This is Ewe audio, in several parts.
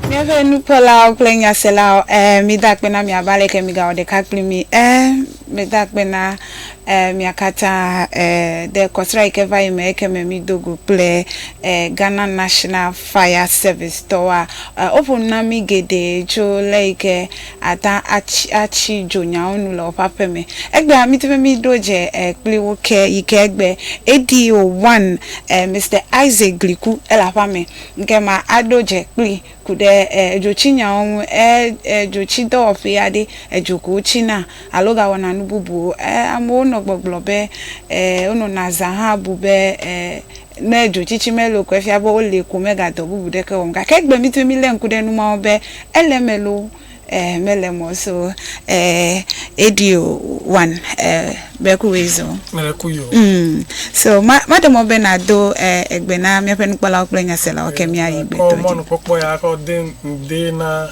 Míaƒe nukpɔlawo kple nyaselawo eh, mida akpe na miava leke migawɔ ɖeka kpli mi eh, mida akpe na eh, mia katã eh, de kɔsra yi ke va yi me yi ke me mido go kple eh, Ghana National Fire Service tɔwoa eh, woƒo nu na mi geɖe tso le yi ke ata atsi atsi dzo nyawo nu le woƒe aƒe me. Egbea midi be miɖo dze kpli wo ke yi ke egbe eɖi o one Mister Isaac Gliku ele aƒea me ke ma aɖo dze kpli ku ɖe edzotsi nyawo ŋu e edzotsi dɔwɔƒe aɖe edzo ko wotsi na alo ga wɔna nu bubu o e amewo nɔ gbɔgblɔ be e wonɔ na zã hã bu be e Ne dzotsitsi me loo ko efia be woli ko megadɔ bubu ɖeke wɔm. Gake egbe mí dome mílé ŋku ɖe nu mawo be ele eme loo eh mele eme o so eh eɖi o one eh be ku wee zo. Mele ku yo. Mm. So ma maɖe mɔ be nado eh egbe na míaƒe nukpɔlawo kple nyaselawo ke míayi gbe Kɔ dɔ dzi. mɔnukpɔkpɔ ya kɔ de ŋde na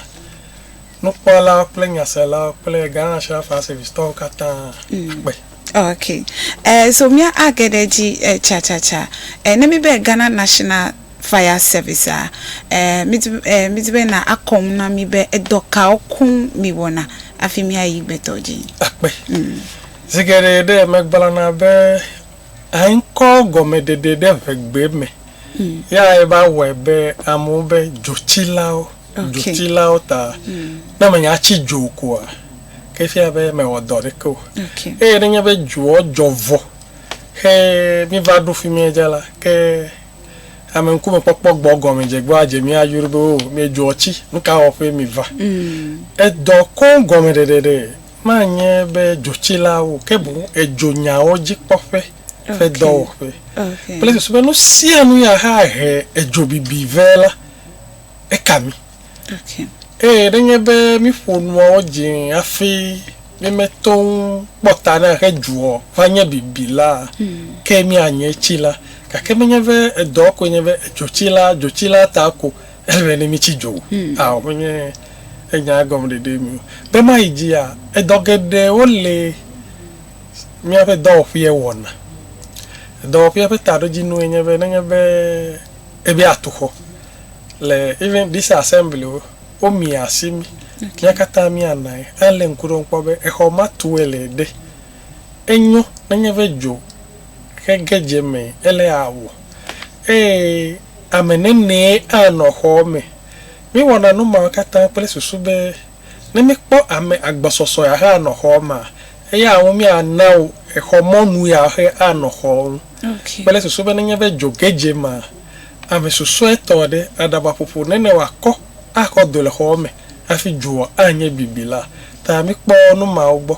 nukpɔlawo kple nyaselawo kple Ghana National Fire Service tɔwo katã akpe. Ok, eh, so mía age ɖe dzi eh, tsatsatsã. Eh, ne mi be Ghana National Fire Service a, eh, mi di eh, mi di be na akɔ nu na mi be edɔ kawo koŋ mi wɔna afi mía yi gbetɔ dzi. Akpe. Mm. Zigere ɖe megblana be ankɔ gɔmeɖeɖe ɖe ʋegbe me. Mm. Ya eba wɔe be amewo be dzotsilawo. dzotsilawo ta. Ne menye atsi dzo koa, ke fia be mewɔ dɔ ɖeke o. Eye nenye be dzoɔ dzɔ vɔ xe miva ɖo fimie dze la, ke ame ŋkume kpɔkpɔ gbɔ gɔme dze gbɔ adze mia yru be o mi dzoɔ tsi, nuka wɔƒe miva. Edɔ koŋ gɔme ɖeɖeɖe manye be dzotsilawo o, ke boŋ edzo nyawo dzikpɔƒe ƒe dɔwɔƒe kple susu be nusianu ya he ahe edzo bibi vɛ la. eka mí. Eye nenye be míƒo nuawo dzi hafi mímeto ŋu kpɔ ta na ehe dzuɔ va nye bibi la, ke míanye tsila. Gake menye be edɔ koe nye be edzotsila dzotsila ta ko ele be ne mítsi dzo o. Ao, menye enya gɔmeɖeɖee mi o. Be mayi dzia, edɔ geɖewo li míaƒe dɔwɔƒea wɔna. Dɔwɔƒea ƒe taɖodzinue nye be nenye be ebe atu xɔ, le even this assembly o, wo mi asi mi, mía katã mía nae. A le ŋku ɖom kpɔ be exɔ ma tue le ɖe. Enyo nenye be dzo xe ge dze me ele a wò. Eye ame nenee a nɔ xɔ me. Mi wɔna nu mawo katã kple susu be ne mi kpɔ ame agbɔsɔsɔ ya hã nɔ xɔ ma, eya ŋu mía nawo exɔ mɔnu ya xe a nɔ xɔ ŋu. Kple susu be nenye be dzo ge dze ma, Ame susɔetɔ aɖe aɖava ƒoƒo ne ne wòakɔ axɔ do le xɔa me hafi dzoa anye bibi la ta. Mikpɔ nu mawo gbɔ.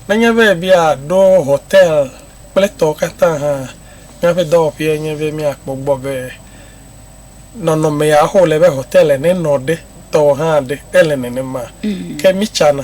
Nenye be miaɖo hotel kple etɔwo katã hã, míaƒe dɔwɔƒee nye be míakpɔ gbɔ be nɔnɔme ya wole be hotel ene nɔ ɖe tɔ hã ɖe ele nenema. Ke mitsana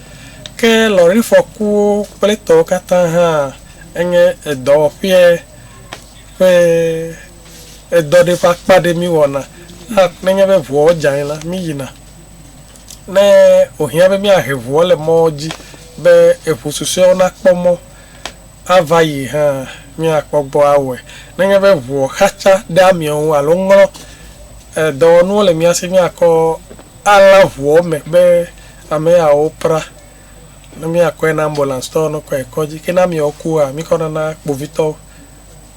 Ke lɔ̃rifɔkuwo kple etɔwo katã hã enye edɔwɔƒea ƒe edɔ ɖe ƒe akpa aɖe míwɔna. Ne, nenye be ŋuawo dze anyi la, míyina. Ne wòhiã be míahe ŋuwo le mɔ dzi be eŋu susɔewo nakpɔ mɔ ava yi hã, míakpɔ gbɔ awɔe. Nenye be ŋuwo xatsa ɖe amea ŋu alo ŋlɔ dɔwɔnuwo le mía si míakɔ alã ŋuwo me be, Ame yawo pra ne míakɔe na ambulance tɔwo ne kɔe kɔdzi. Ke ne ameawo kua, míkɔna na kpovitɔwo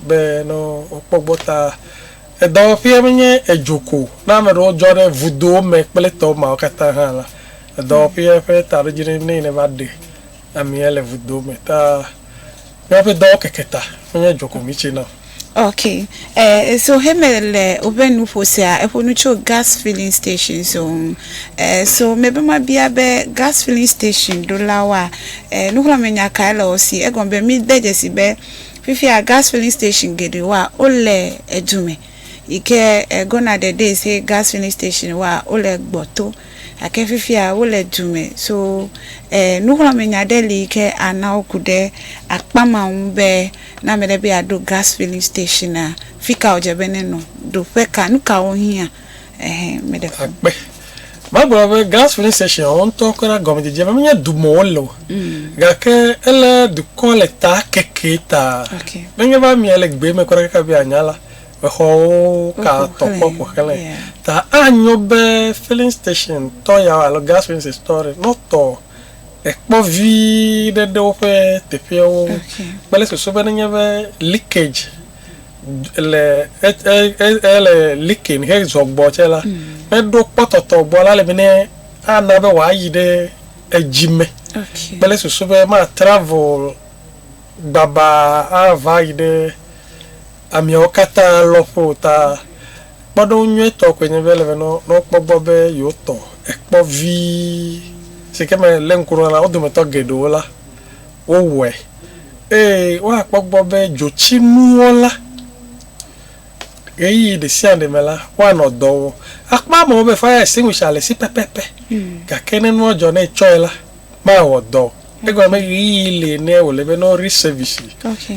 be ne wokpɔ gbɔ. Ta edɔwɔƒea menye edzo ko o. Ne ame ɖewo dzɔ ɖe vudowo me kple tɔ mawo katã hã la, edɔwɔƒea ƒe taɖodzinue nɛ ne va ɖe. Amea le vudo me ta. Míaƒe dɔwo keke ta, menye dzo ko mítsena o. Ok, eh, so Heme le woƒe nuƒo sea, eƒo nu tso gas filling stations wo ŋu. Eh, so mebe mabia be gas filling station ɖolawoa, eh, nuxlɔ̃amenya kae le wo si? Egɔme be mide dzesi be fifia gas filling station geɖewoa, wole edu me, yi ke eh, gone are the days he gas filling station woa, wole gbɔto. Gake fifia wole du me. So e, nuxlɔ̃amenya ɖe li yi ke ana woku ɖe akpa ma ŋu be ne ame ɖe be yeaɖo gas filling stationa, fi ka wòdze be nenɔ, ɖo ƒe ka, nu kawo wohiã. Ɛhɛ, ame ɖe ƒo. Akpe. Bible be gas filling station wo ŋutɔ kura na gɔmedzedzea be menye du me wole o. Gake ele dukɔ le ta keke ta. Okay. Nenye be amea le gbee me kura kaka be yeanya la, Exɔwo ka tɔ kpɔ ƒo xlãe. Ta anyo be filling station tɔ yawo alo gas agencies tɔwo ɖe, ne wotɔ ekpɔ vi ɖe ɖe woƒe teƒeawo ŋu kple susu be nenye be leakage le ele leaking hezɔ gbɔ tsɛ la, neɖo kpɔtɔtɔ gbɔ la le be ne ana be wòayi ɖe edzi me kple susu be ma travel gbabaa ava yi ɖe. ameawo katã lɔ̃ƒo o ta. Kpɔɖeŋu nyuitɔ koe nye be ele be ne wokpɔ gbɔ be yewo tɔ ekpɔ vi si ke me lé ŋku ɖe wo ŋu la, wo dometɔ geɖewo la, wowɔe. Eye woakpɔ gbɔ be dzotsinuwo la, ɣeyiɣi ɖe sia ɖe me la, woanɔ dɔ wɔm. Akpɔ amewo be fire extinguisher le esi pɛpɛpɛ, gake ne nua dzɔ ne etsɔe la, Mawɔ dɔ. Egɔme be ɣeyiɣi li ne wòle be ne woɖi sɛvisi.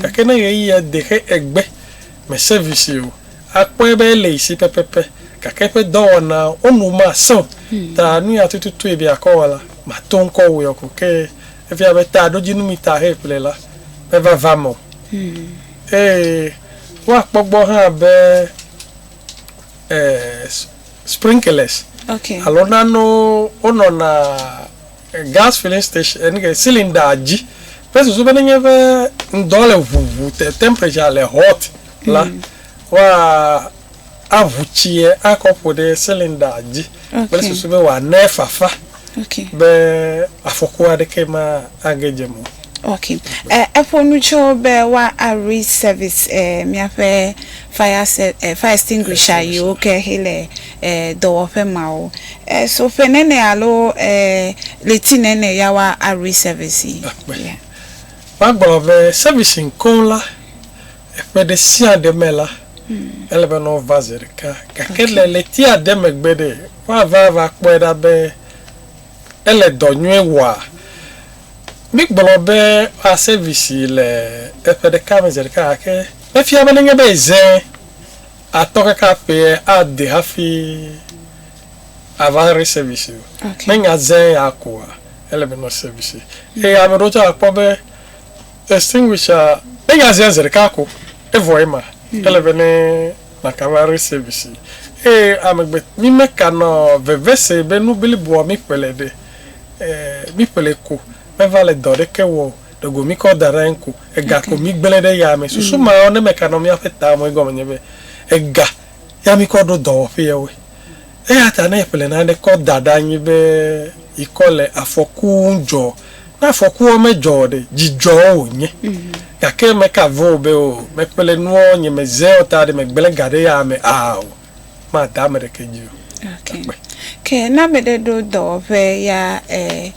Gake ne ɣeyiɣia de xe egbe me sɛvisi o, akpɔe be ele esi pɛpɛpɛ. Gake eƒe dɔwɔna wo nu masẽ o. Ta nu ya tututu yi be akɔ wɔ la, màto ŋkɔ wɔe o ko. Ke efia be taɖodzinu mi ta he ƒle la, meva va eme o. Eye woakpɔ gbɔ hã be, e, Sprinklers alo nanewo wonɔna gas filling station enu ke cylinder dzi kple susu be nenye be ŋdɔ le ʋuʋu te temperature le hot la wa aʋu tsie akɔ ƒo ɖe cylinder dzi kple susu be woane fafa. be afɔku aɖeke mage dze mɔ. Okay. E, eƒo nu tso be wa re service e, míaƒe fire, se, e, fire extinguisher yiwo ke hele e, dɔwɔƒe mawo. E, so ƒe nene alo e, leti nene ya wa re service yi. Yeah. Magblɔ be servicing koŋ la, Ƒe ɖe sia ɖe me la, ele be ne wova zi ɖeka. Gake le ɣleti ade megbe ɖe, woava va kpɔe ɖa be ele dɔ nyuie wɔa. Mígblɔ be woa sɛvisi le ƒe ɖeka me zi ɖeka gake efia be nenye be eze atɔ kaka ƒea ade hafi ava re sɛvisi o. Nenye eze ya koa, ele be ne wosɛvisi. Eye ame aɖewo tsɛ akpɔ be. Extinguisher ne ya zia zi ɖeka ko evɔ ye ma ele be ne na ka va resave si eye ame gbe mi me ka nɔ veve se be nu bliboa mi ƒle le ɖe mi ƒle ko me va le dɔ ɖeke wɔ o ɖe go mi kɔ da ɖe anyi ko ega ko mi gble ɖe ya me susu ma ne me ka nɔ mi aƒe ta me egɔme nye be ega ya mi kɔ ɖo dɔwɔƒe ya woe. Eya ta ne eƒle nane kɔ da ɖe anyi be yikɔ le afɔku ŋu dzɔ, ne afɔkua medzɔ o ɖe, dzidzɔ wònye. Gake meka ve wò be, Oo, meƒle nuɔ, nye meze o ta ɖe megblẽ ga ɖe eya me a o. Mada ame ɖeke dzi o. Ok. Akpe. Ke ne ame ɖe ɖo dɔwɔƒe ya e,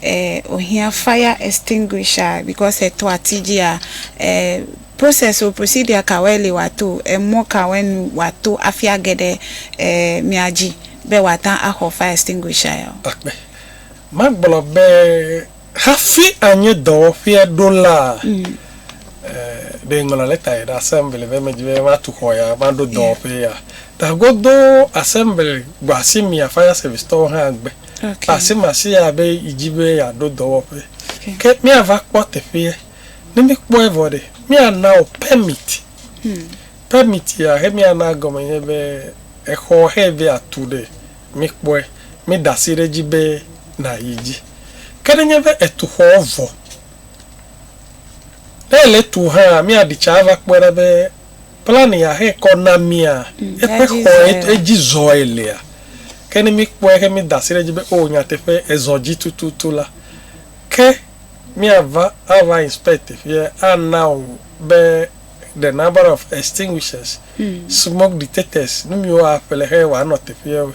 e, wòhiã fire extinguisher because etɔ ati dzia, e, Process o procedure kawoe li wòato o emɔ kawoe nu wòato afi age ɖe e mia dzi be wòata axɔ fire extinguisher ya o. Akpe. Magblɔ be hafi anyi dɔwɔƒea ɖo la e ɖe ŋlɔ lɛta yi ɖe assembly be medi be matu xɔ ya maɖo dɔwɔƒe ya ta godoo assembly gbɔ asi mia fire service tɔwo hã gbe asimasia be yi dzi be yeaɖo dɔwɔƒe ke miava kpɔ teƒea. Ne míkpɔe vɔ ɖe, míana wò permit. Permit ya xe míana egɔme nye be exɔ xe be yeatu ɖe, míkpɔe, mída asi ɖe edzi be nàyi edzi. Ke ne nye be ètu xɔ vɔ, ne èle etum hã, míaɖi tsa ava kpɔe ɖa be plan ya xe kɔ na mía, eƒe xɔ edzi zɔe lea. Ke ne míkpɔe xe mída asi ɖe edzi be o nyateƒe ezɔ edzi tututu la, ke. Míava ava inspect teƒea ana wò be the number of extinguishers, smoke detectors, nu miwo aƒle xe wòanɔ teƒea we.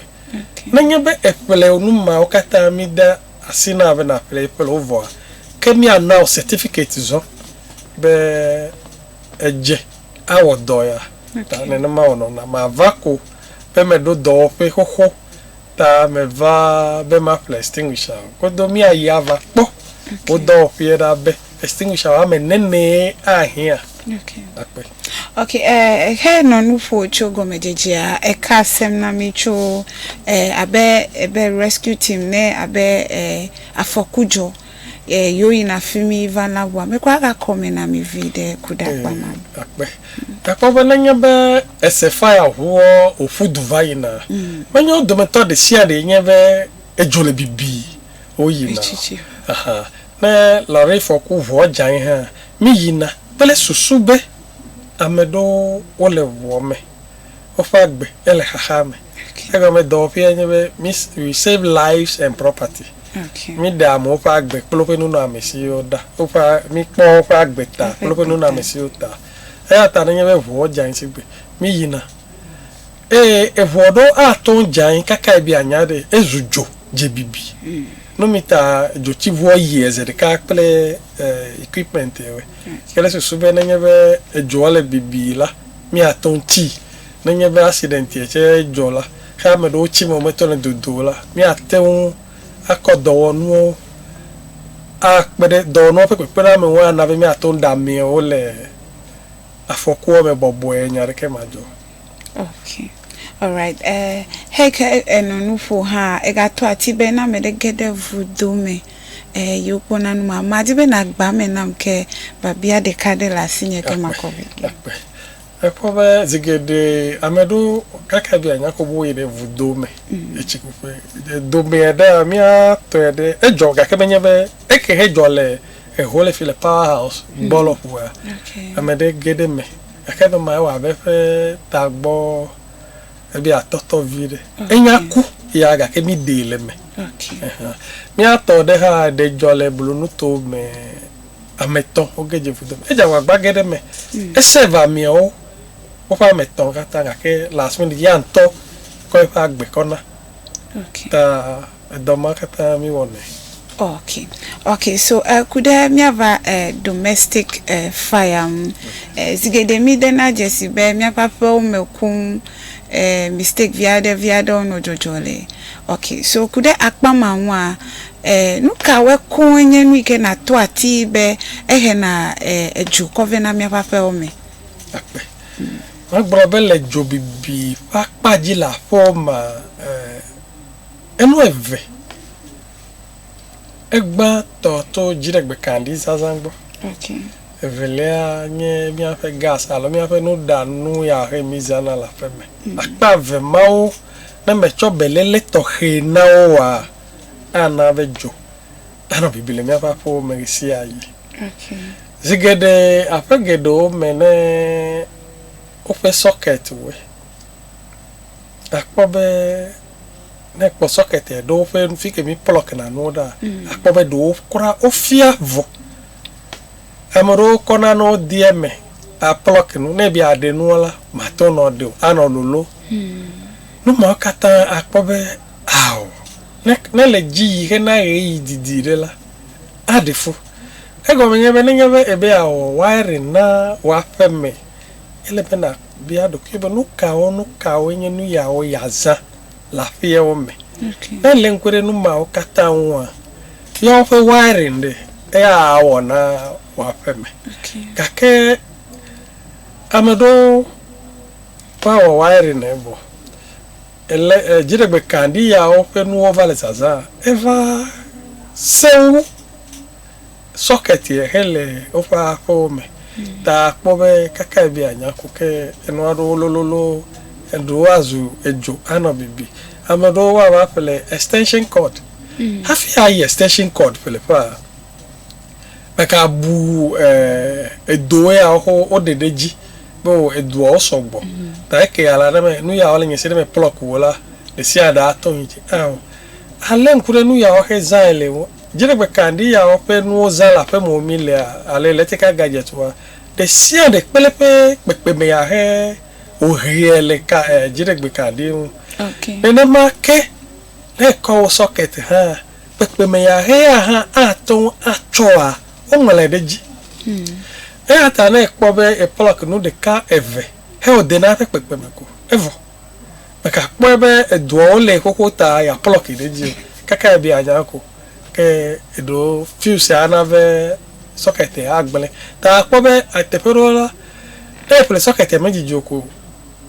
Nenye be eƒle wò nu mawo katã mide asi na be nàƒle eƒle wo vɔa, ke míana wò certificate zɔ be edze awɔ dɔ ya. Ta nenema wònɔna. Mava ko be meɖo dɔwɔƒe xoxo Ta meva be maƒle extinguisher o. Kodo míayi ava kpɔ wo dɔwɔƒeɛ ɖa be extinguisher woame nenee ahiã akpe. Ok, eh, xe nɔ nu ƒo tso gɔmedzedzea, eka asem na mí tso eh, abe, abe rescue team ne abe eh, afɔku dzɔ. e yo yi na fi mi va na bua me kwa ga kɔ me na mi vi ɖe ku ɖa kpa ma. Akpe. Gakpɔ be ne nye be ese faya ʋuɔ o ƒu du va yi na, me nye wo dome tɔ ɖe sia ɖe nye be edzo le bibi wo yi na. Aha. Ne lɔri fɔku ʋuɔ dza yi hã, mi yi na kple susu be ame ɖewo wo le ʋuɔ me. woƒe agbe ele xaxa me. Egɔme dɔwɔƒea nye be mi we save lives and property. Okay. Mi ɖe amewo ƒe agbe kple woƒe nunɔamesiwo ɖa. Woƒe mi kpɔ woƒe agbe ta kple woƒe nunɔamesiwo ta. Eya ta nenye be ʋuɔ dze anyi sigbe mi yina. Eye eʋuɔ ɖewo ato ŋu dze anyi kaka ebi anya ɖe ezu dzo dze bibi. Mm. No mi ta dzotsiʋuɔ yie eze ɖeka kple eh, equipment ewe. Mm. Ke ɖe susu be nenye be edzoa le bibi la Míatɔ ŋuti. Nenye be accident tsɛ dzɔ la, xe ame ɖewo tsi me wometɔ le dodo o la, míate ŋu akɔ dɔwɔnuwo akpe ɖe, dɔwɔnuwo ƒe kpekpeɖeamewo ana be míate ŋu ɖamee wole afɔkua me bɔbɔe, nya aɖeke madzɔ. Ok, alright, e, heke eno nuƒo hã, egato ati be ne ame ɖe ge ɖe vudo me. Ehe yi wokpɔ na nu ma. Madi be nàgbã eme nam ke biabia ɖeka aɖe le asinye ke makɔ vi ge. Akpe. Èkpɔ be zi geɖe ame ɖewo kaka be yeanya ko be woyi ɖe vudo me le tsikuƒe. Domea ɖea míatɔe ɖe edzɔ gake menye be eke he dzɔ le eho le fi le Power House gbɔ lɔƒoa. Ame ɖe ge ɖe eme gake ame ma ewɔ abe eƒe tagbɔ eɖe atɔtɔ vi ɖe enya ku ya gake mi ɖee le me miatɔ ɖe hã ɖe dzɔ le blonuto me ametɔ woge dze vudo edze agbagba ge ɖe me hmm. ese va miawo woƒe ametɔ katã gake last minute ya ŋutɔ kɔ eƒe agbe kɔna ta Edɔ ma katã mi wɔnɛ. Okay okay so eh, ku ɖe míava eh, domestic eh, fire ŋu. Eh, zi geɖe mi dena dzesi be míaƒe aƒewo me koŋ eh, mistake vi aɖe vi aɖewo nɔ dzɔdzɔ le. Okay so ku ɖe akpa ma ŋua eh, nu kawoe koŋ nye nu yi ke nàto atii be ehena eh, edzo kɔ vɛ na míaƒe aƒewo me? Akpe. Magblɔ be le dzobibi ƒe akpa dzi le aƒewo mea eh, Enu eve egbã tɔ to dziɖegbekaɖi zazã gbɔ. Evelia nye míaƒe gas alo míaƒe nuɖanu ya he mí zãna le aƒe me. Akpa eve mawo, ne mètsɔ beléle tɔxɛ na wo oa, ana be dzo anɔ bibi le míaƒe aƒewo me ɣesiaɣi. Zi geɖe aƒe geɖewo me ne woƒe sɔketiwoe, àkpɔ be ne ekpɔ sɔkɛtɛ ɖo woƒe fi ke mi plɔk na nuwo ɖa mm. akpɔ be ɖewo kura wofia vɔ ame ɖewo kɔ na ne wodi eme aplɔk nu ne bi aɖe nuwo la mate nɔ ɖe o anɔ lolo mm. nu mawo katã akpɔ be ao ne ne le dzi yi ke na ɣe yi didi ɖe la aɖe fu egɔme nye be nenye be ebe awɔ wiring na woaƒe me Ele be nàbia ɖokuiwò be, Nukawo, nukawoe nye nuyawo yeazã le aƒeawo me? Ne èlé ŋku ɖe nu mawo katã ŋua, bia woƒe wiring ɖe, eya awɔ na wò aƒe me. Gake ame ɖewo va wɔ wiring ɖe vɔ, ele, e, dziɖegbekaɖi yawo ƒe nuwo va le zazã, eva sẽ wo ŋu. socket ye xe le woƒe aƒewo me ta kpɔ be kakae be anya ku ke enu aɖewo lololo eɖewo azu edzo anɔ bibi ame aɖewo woava ƒle extension cord mm. hafi ayi extension cord ƒle ƒea ɖeka bu eh, edo ya woɖe ɖe dzi be edoawo sɔgbɔ mm. ta eke ala ɖe me nu yawo le nye se ɖe me plɔk wo la ɖe sia ɖe ato yi dzi alé ŋku ɖe nu yawo xe zãe le wo Dziɖegbe ka ŋdi ya wɔƒe nuwo zã le aƒeme wò mi lea ale letika gadget wa ɖe sia ɖe kpeleƒe kpekpeme ya he wò ʋea le ka eh dziɖegbe ka ŋdi ŋu. Okay. Nenema ke ne ekɔ wò socket hã kpekpeme ya he ya hã ate ŋu atsɔ wa wo ŋlɔe ɖe edzi. Hmm. Eya ta ne ekpɔ be e plug nu ɖeka eve he wò dena eƒe kpekpeme ko evɔ. Mègakpɔe be edoawo lée xoxo ta yeaplɔ ke ɖe edzi o. Kaka ebia nya ko. Ke eɖo fiwusia ana be sɔketia agblẽ. Ta akpɔ be teƒe ɖewo la, ne eƒle sɔketia medidi o ko,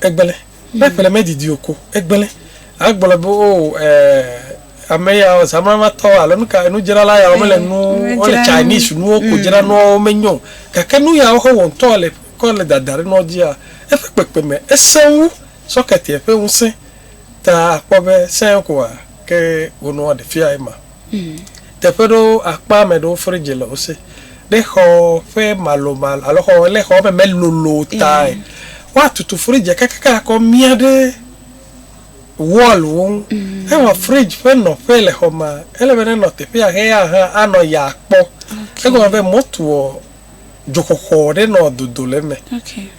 egblẽ. Ne eƒle medidi o ko, egblẽ. Agblɔ be o ɛɛ ame ya o, zamramatɔ alo nuka enudzrala yawo mele nu, wole Chinese nuwo ko dzram, nuawo menyo o. Gake nuyawo xɔ wɔ ŋutɔ le. kɔ le dada ɖe nɔ dzia, eƒe kpekpeme esẽ wu sɔketia ƒe ŋusẽ. Ta àkpɔ be sẽe koa, ke wònɔ aɖe fia ema. Teƒe ɖewo akpa ame ɖewo fridzi le wo si. Ne xɔ ƒe malomalo alo xɔ ne xɔ me melolo o tae, woatutu fridzia kakaka akɔ mia ɖe wɔlwo ŋu. Evɔ fridzi ƒe nɔƒe le xɔ mea, ele be nenɔ teƒea ʋɛa hã anɔ ya kpɔ. Egɔme be motoɔ dzoxɔxɔ ɖe nɔ dodo le eme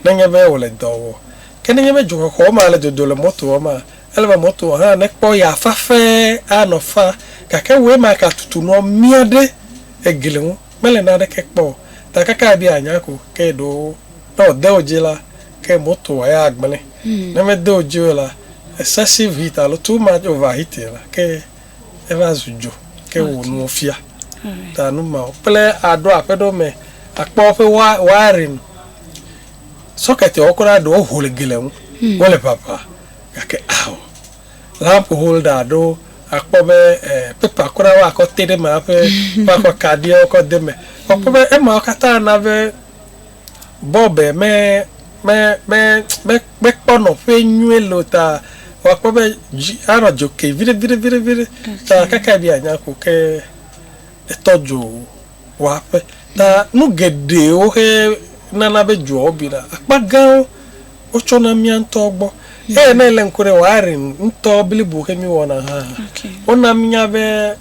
ne nye be wòle dɔ wɔ. Ke ne nye be dzoxɔxɔ ma le dodo le motoa ma, ele be motoa hã nekpɔ ya fafe anɔ fa. Gake wòe ma ka tutu nua mia ɖe egli ŋu, mele naneke kpɔ o. Ta kaka ebe yeanya ko ke ɖo ne wòde wo dzi la, ke motoa ya agblẽ. Ne mede wo dzi o la, excessive heat alo too much over heating la ke eva zu dzo, ke wò nuwo fia. Ta nu ma kple aɖo aƒe ɖewo me akpɔ woƒe wiring, socket wo kura ɖewo ho le gli ŋu, hmm. wole ʋaʋã gake ao lamp holder aɖo akpɔ be eh, pepa kura woakɔ te ɖe me aƒe woakɔ kaɖiwo kɔ de me. Wokpɔ be emawo katã na be Bɔbe me, me, me, me, mekpɔ nɔƒe nyuie loo ta wòakpɔ be dzi anɔ dzo ke viɖe, viɖe, viɖe, viɖe. Ta Okay. kaka be anya ko ke etɔ dzo wɔaƒe. Ta nu geɖewo xe nana be dzoa wobina. Akpa gãwo wotsɔna mía ŋutɔwo gbɔ. Eye ne èlé ŋku ɖe Wiring ŋutɔ blibo xe mí wɔna hã, Okay. wona mínya be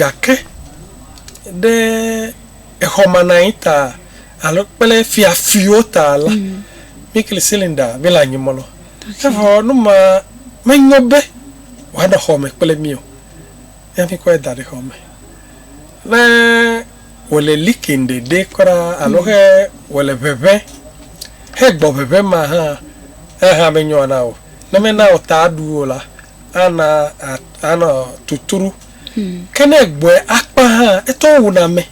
Gake ɖe exɔmananyi ta alo kple fiafiwo ta la, mm. mikli silinda mele anyimɔ lɔ. Evɔ nu ma menyo be wòanɔ xɔ me kple mí o. Ne mikɔe da ɖe xɔ me. Ne wòle likin ɖeɖe kura alo mm. he wòle ʋeʋẽ hegbɔ ʋeʋẽ ma hã, ehã menyoa na o. Ne mena o ta aɖu o la, ana anɔ tuturu. Hmm. Ke ne gbɔe akpa hã, etɔ wuna ame.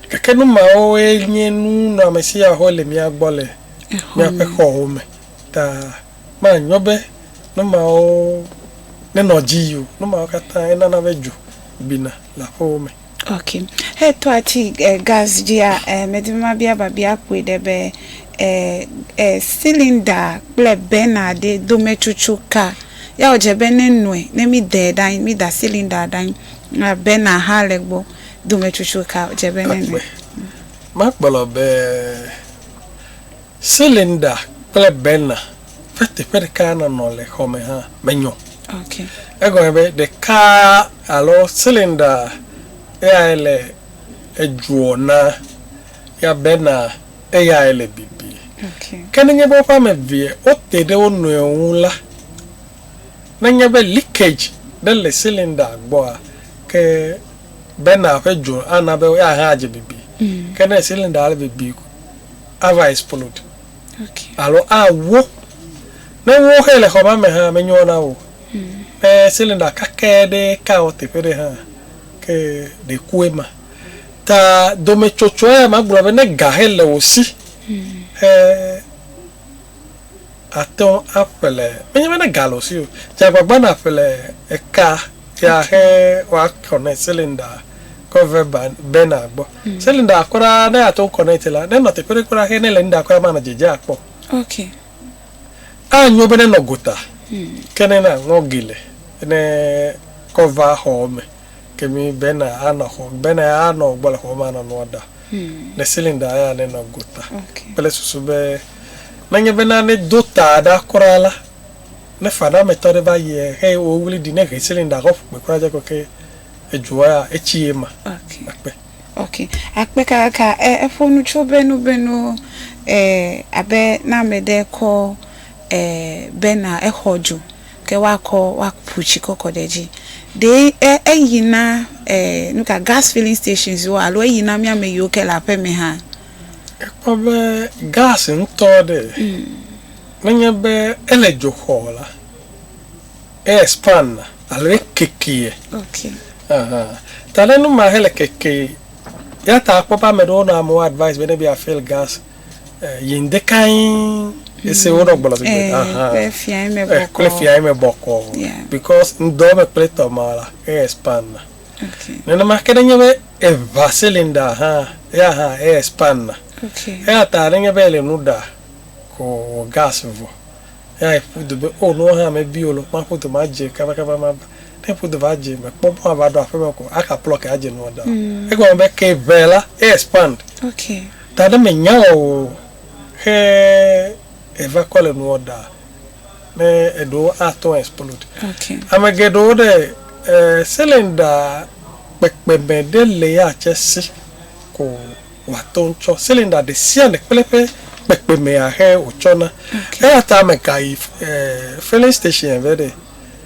Gake nu mawoe nye nu nɔamesi ya wole mía gbɔ le míaƒe xɔwo me. Ta manyo be nu mawo nenɔ dzi yi o. Nu mawo katã enana be dzo bina le aƒewo me. Ok. Etɔ atsi e gas dzia e medi be mabia babia kpui ɖe be e e silinda kple bɛna ɖe dometsotso ka. Ya wodze be ne nɔe ne mi dɛ ɖe anyi mi da silinda ɖe anyi a bɛna hã le gbɔ dometsotso ka wodze be ne nɔe. Makplɔ be. Cylinder kple burner ƒe teƒe ɖeka nɔnɔ le xɔ me hã menyɔ o. Egɔme be ɖeka alo cylinder eyae le edzoɔ na ya burner eyae le bibi. Ke nenye be woƒe ame evea wote ɖe wo nɔewo ŋu la, nenye be leakage ɖe le cylinder gbɔa, ke burner ƒe dzo ana be eya hã adze bibi. Ke ne cylinder le bibi. ava explode alo awo. Ne wo xe le xɔ ma me hã menyo na wo. Ne cylinder kake ɖe ka wò teƒe ɖe hã ke ɖe ku ema. Ta dometsotsoa ya magblɔ be ne ga xe le wò si xe. atɔ aƒle menye be ne ga le osi o dze agbagba na ƒle eka ya xe wa connect cylinder kɔ ve burner gbɔ hmm. cylinder kɔ ɖa ne ya to connect la ne nɔ teƒe ɖe kɔ ɖa xe ne le nda kɔ ya ma na dzedze akpɔ ok a nyo be ne nɔ gota hmm. ke ne na ngɔ gele ne kɔ va xɔ me Ke mi bena anɔ xɔ bena ya anɔ gbɔ le xɔ me anɔ nua ɖa le ceiling ɖa ya ne nɔ gota kple susu be ne nye bena ne do ta ɖa kura la ne fa na me tɔ ɖe va yie he wo wli ɖi ne he ceiling ɖa xɔ ƒukpe kura dze kɔ ke edzoa ya etsi ye ma akpe. Ok akpe kakaka e eƒo nu tso be nu be nu e abe na me ɖe kɔ e bena exɔ dzo. Ke woakɔ, woaku tsi kɔ kɔ ɖe edzi. Ɖe e, eyi na e, nu ka, gas filling stations woa alo eyi na mía ame yiwo ke le aƒe me hã? Ekpɔ be gas ŋutɔ ɖe, menye be ele dzo xɔ o la, e expand na alo e kekeɛ. Okay. Aha. Ta ɖe nu ma hele keke. Eya ta akpɔ be ame ɖewo nɔ amewo advice be ne be yeafill gas. Yi ŋdekae ese wo ɖɔ gbɔlɔ gbegbe. Ahan. Kple fia yi me Eh, bɔkɔ. Kple fia yi me bɔkɔ. Yeah. Because ŋdɔ me kple tɔ ma la, e expand na. Okay. Nenema ke nenye be eva cylinder hã, ya hã e expand na. Okay. Eya ta nenye be ele nu ɖa ko wɔ gas vɔ, ya eƒu du be o nua hã mebi o lɔ, maƒu du madze kabakaba mava. Ne eƒu du va dze mekpɔ mɔ ava ɖo aƒeme ko, aka plug adze nua da o. Egɔme be ke eve la e expand. Okay. Taɖe me nya wɔ o xe eva kɔ le nuɔ ɖa ne eɖo a tɔn explode. Ame geɖewo ɖe cylinder kpekpe me ɖe le ya tse si ko wa tɔn tsɔ cylinder ɖe sia ɖe kple eƒe kpekpe mea xe wo tsɔ na. Eya ta ame ka yi filling station vɛ ɖe.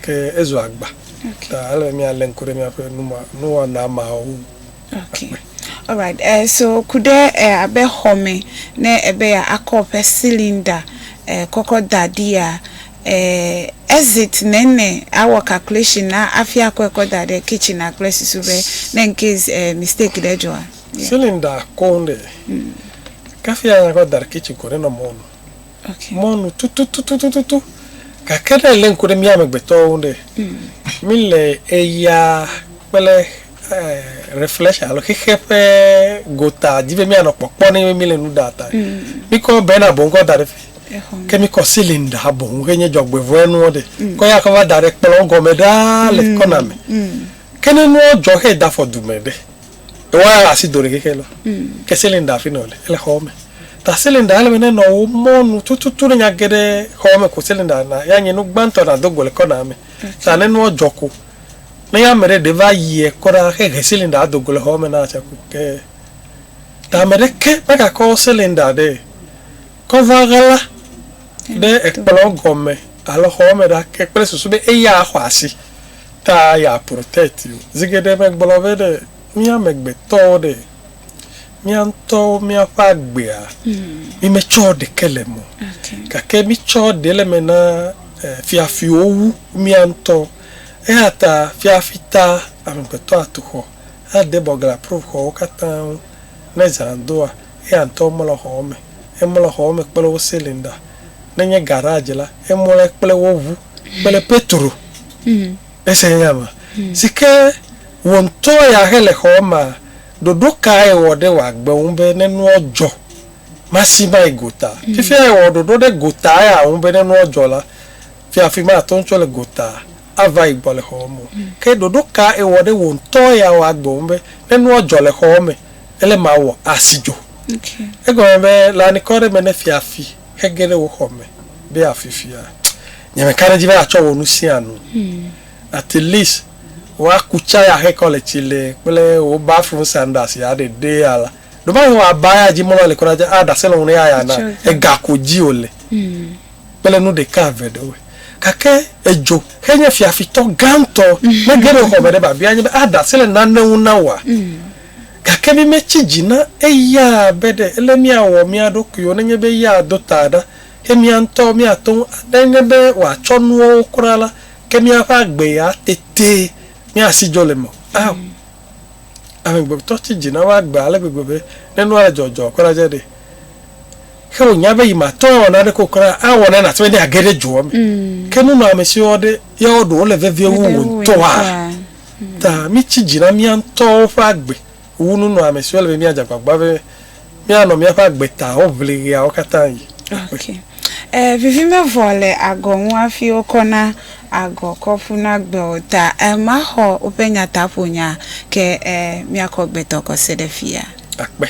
Ke ezu agba ta ele be míalé ŋku ɖe míaƒe nuwɔna mawo ŋu akpɔe. Alright, eh, so ku ɖe eh, abe xɔme ne ebe ya akɔ woƒe cylinder eh, kɔkɔ da ɖia, eh, exit nene awɔ calculation na afi akɔe kɔ da ɖe kitchen a kple susu be ne incase eh, mistake ɖe dzɔa. Yeah. Cylinder kɔŋ ɖe. Mm. Kafi anya kɔ da ɖe kitchen ko nenɔ mɔnu. mɔ nu tututututu. Gake ne èlé ŋku ɖe mía amegbetɔwo ŋu ɖe, míle ɣeyiɣia kple reflection alo xexe ƒe gota di be míanɔ kpɔkpɔ ne be míle nu ɖa ta. Míkɔ bena boŋ kɔ da ɖe fi. Ke míkɔ cylinder boŋ xe nye dzɔgbevɔ̃e nuwo ɖe, kɔ ya kɔ va da ɖe kplɔ̃ gɔme ɖaa le kɔna me. Ke ne nuwo dzɔ xe da fɔ du me ɖe? Woa asi do ɖekeke lɔ. Mm. Ke cylinder fi nɔ le ele xɔ me. Ta cylinder ele me ne nɔ wo mɔnu tututu ne nya geɖe xɔ me ko cylinder na ya nye nu gbãtɔ na do go le kɔna me. Ta ne nua jɔ ko ne ya me ɖe ɖe va yie kɔɖa xe he cylinder ado go le xɔ me na tsa ko ke. Ta me ɖe ke me ga kɔ cylinder ɖe kɔ va ɣla ɖe ekplɔ gɔme alo xɔ me ɖa ke kple susu be eya xɔ asi. Ta ya protɛti o. Zi geɖe megblɔ be ɖe mí amegbetɔwo ɖe, mía ŋutɔwo míaƒe agbea mí metsɔ ɖeke le eme o. Gake mí tsɔ ɖe le eme na fiafiwo wu mía ŋutɔ. Eya ta fiafi ta amegbetɔ atu xɔ, ade bɔ gla pruv xɔwo katã ŋu. Ne zã doa, eya ŋutɔ mlɔ xɔwo me. Emlɔ xɔwo me kple wo silinda. Ne nye garadzi la, emlɔe kple wo ŋu. kple Petro ese nya me si ke wò ŋutɔ ya he le xɔɔ mea, ɖoɖo kae èwɔ ɖe wò agbe ŋu be ne nua dzɔ, masi mae gota? Fifia èwɔ ɖoɖo ɖe gota ya ŋu be ne nua dzɔ la, fiafi mate ŋu tso le gota ava yi gbɔ le xɔa me o. Ke ɖoɖo ka èwɔ ɖe wò ŋutɔ ya wò agbe ŋu be ne nua dzɔ le xɔa me, ele mawɔ asi dzo? Egɔme be le anikɔ aɖe me ne fiafi. Ege ɖe wò xɔ me be afifia nye me ka ɖe edzi be atsɔ wò nu sia nu. At least woaku tsaya ahe kɔ le tsi le kple wò bathroom sandals ya ɖe ɖe ya la. Ɖo ma he wòa ba ya dzi mɔlɔ le kura dza a ɖase lɔnu ya ya na ega ko dzi wò le kple nu ɖeka eve ɖe woe. Gake edzo xe nye fiafitɔ gãtɔ. Ne ge ɖe wò xɔ me ɖe ba bia nye be a ɖase le nane ŋu na wòa Gake mímetsi dzi na eya be ɖe ele míawɔ mía ɖokuiwo nenye be eya ado ta ɖa eye mía ŋutɔwo míate ŋu aɖe eŋe be wòatsɔ nuawo kura la, ke míaƒe agbee ya tete míasi dzo le eme o. Ao, amegbetɔ tsi dzi na eƒe agbe ale gbegbe be ne nua le dzɔdzɔ kura dze ɖee, ke wònya be yi mate ŋu awɔ naneke o kura, awɔ nane ase be ne yeage ɖe dzoa me. Ke nunɔamesiwo ɖe, yawo ɖe wole vevie wu wò ŋutɔa? Ta mítsi dzi na mía ŋutɔwo ƒe agbe wu nunɔamesiwo ele be míadze agbagba be míanɔ míaƒe agbe tawo ʋlim ɣeawo katã ɣi. Ok. E, vivi mevɔ le agɔ ŋu hafi wokɔ na agɔ kɔ ƒu na gbe o. Ta e, maxɔ woƒe nyataƒonya ke e, míakɔ gbetɔ kɔ se ɖe fia. Akpe.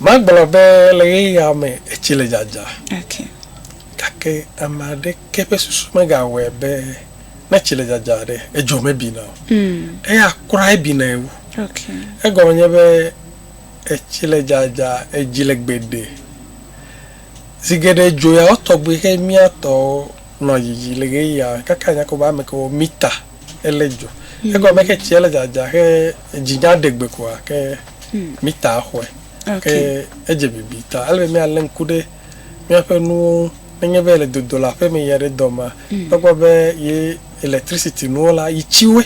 Magblɔ be le ɣeyiɣia me etsi le dzadza. Ok. Gake ame aɖeke ƒe susu megawɔe be. Ne tsi le dzadza ɖe, edzo mebina o. Eya kura ebinae wu. Egɔme nye be etsi le dzadza, edzi le gbeɖe. Zi geɖe dzo ya wo tɔgbi xe mía tɔwo nɔ dzidzi le ɣeyiɣia me kaka nya ko be ame ke wo mita ele dzo. Egɔme ke tsia le dzadza xe edzi nya ɖe gbe koa ke mita xɔe. Ke edze bibi ta. Ele be mía le ŋku ɖe. Míaƒe nuwo ŋu. Nenye be yele dodo le aƒe me yi aɖe dɔ mea, ekpɔ be ye electricity nuwo la, yi tsi woe.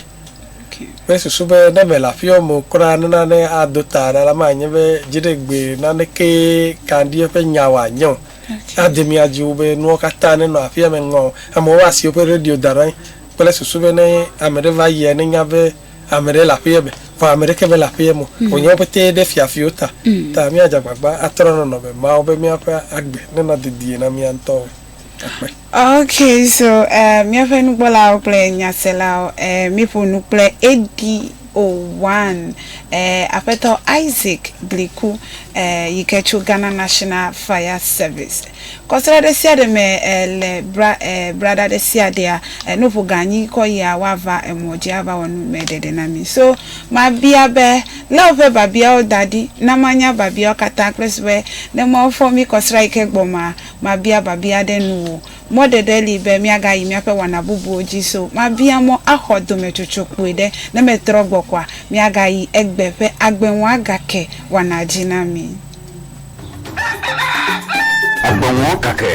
Kple susu be ne mele aƒeawo me o kura nena ne ado ta ɖa la, manye be dziɖegbe nanekee ka ŋdi eƒe nya wòanye o. Ade mía dzi wu be nuwo katã nenɔ aƒea me ŋɔ. Amewo asi woƒe radio da ɖe anyi kple susu be ne ame ɖe va yia, nenya be. Ame ɖe le aƒeye me, vɔ ame ɖeke mele aƒeye me o, wònye wo ƒete ɖe fiafiwo ta. Ta míadze agbagba atrɔ nɔnɔme mawo be míaƒe agbe nenɔ dedie na mía ŋutɔwoe. Akpe. Ok, so eh, míaƒe nukpɔlawo kple nyaselawo, eh, míeƒo nu kple Eddy Owan, eh, Aƒetɔ Isaac Bliku, eh, yike tso Ghana National Fire Service. Kɔsra ɖe sia ɖe me le bra braɖa ɖe sia ɖea, nuƒo gã nyi kɔ yia woava emɔ dzi ava wɔ nu me ɖeɖe na mi. So mabia be, lé woƒe babiawo da ɖi na manya babiawo katã kple su be ne Mawu fɔ mi kɔsra yi ke gbɔ maa, mabia babia ɖe nuwò. Mɔ ɖeɖe li be miaga yi miaƒe wɔna bubuwo dzi so mabia mɔ axɔ dometsotso kpui ɖe ne metrɔ gbɔ koa miaga yi egbe ƒe agbe ŋua gake wɔna dzi na mi. Agbeŋuɔ kake.